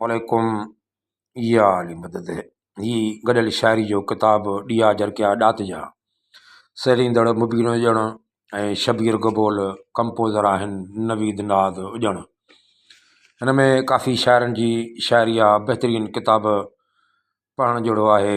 عليڪم يا علي مدد هي گڏيل شاعري جو ڪتاب ڏيئا جرڪيا ڏات جا سهيڙيندڙ مبين هجڻ ۽ شبير گبول ڪمپوزر آهن نويد ناد ڄڻ هن ۾ ڪافي شاعرن جي شاعري آ بهترين ڪتاب پڙهڻ جهڙو آهي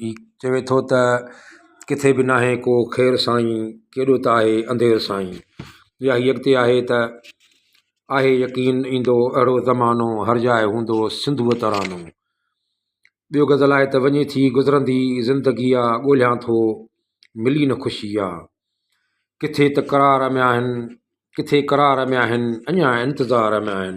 ھي چوي ٿو ته ڪٿي به ناھي ڪو خير سائين ڪيڏو ته آھي انڌير سائين يا ھي اڳتي آھي ته آھي يقين ايندو اھڙو زمانو ھر جاء ھوندو سنڌوء ترانو ٻيو غزل آھي ته وڃي ٿي گذرندي زندگي آ ڳوليان ٿو ملي نه خوشي آ ڪٿي ته قرار ۾ آھن ڪٿي قرار ۾ آھن اڃان انتظار ۾ آھن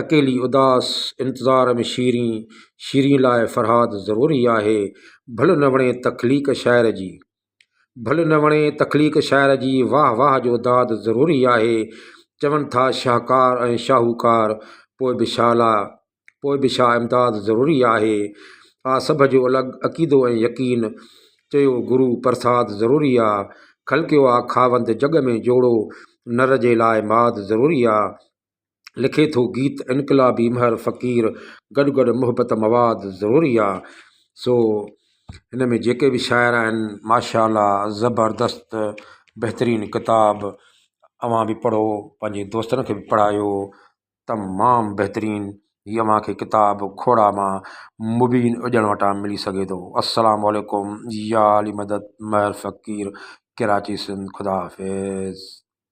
اڪيلي اداس انتظار ۾ شيرين، شيرين لاء فرهاد ضروري آهي، ڀل نه وڻي تخليق شاعر جي، ڀل نه وڻي تخليق شاعر جي، واهه واهه جو داد ضروري آهي، چون ٿا شاهڪار ۽ شاهوڪار، پوء به ڇا لا، پوء به ڇا امداد ضروري آهي، آ سڀ جو الڳ عقيدو ۽ يقين، چيو گرو پرساد ضروري آ، خلقيو آ خاوند جڳ ۾ جوڙو، نر جي لاء ماد ضروري آ، لکي ٿو گيت انقلابي مهر فقير گڏ گڏ محبت مواد ضروري آ سو ھن ۾ جيڪي بھ شاعر آھن ماشاء الله زبردست بھترين ڪتاب اوھان بھ پڙھو پنھنجي دوستن کي بھ پڙھايو تمام بھترين ھي اوھان کي ڪتاب کوڙا مان مبين اجڻ وٽا ملي سگھي ٿو السلام عليڪم يا علي مدد مھر فقير ڪراچي سنڌ خدا حافظ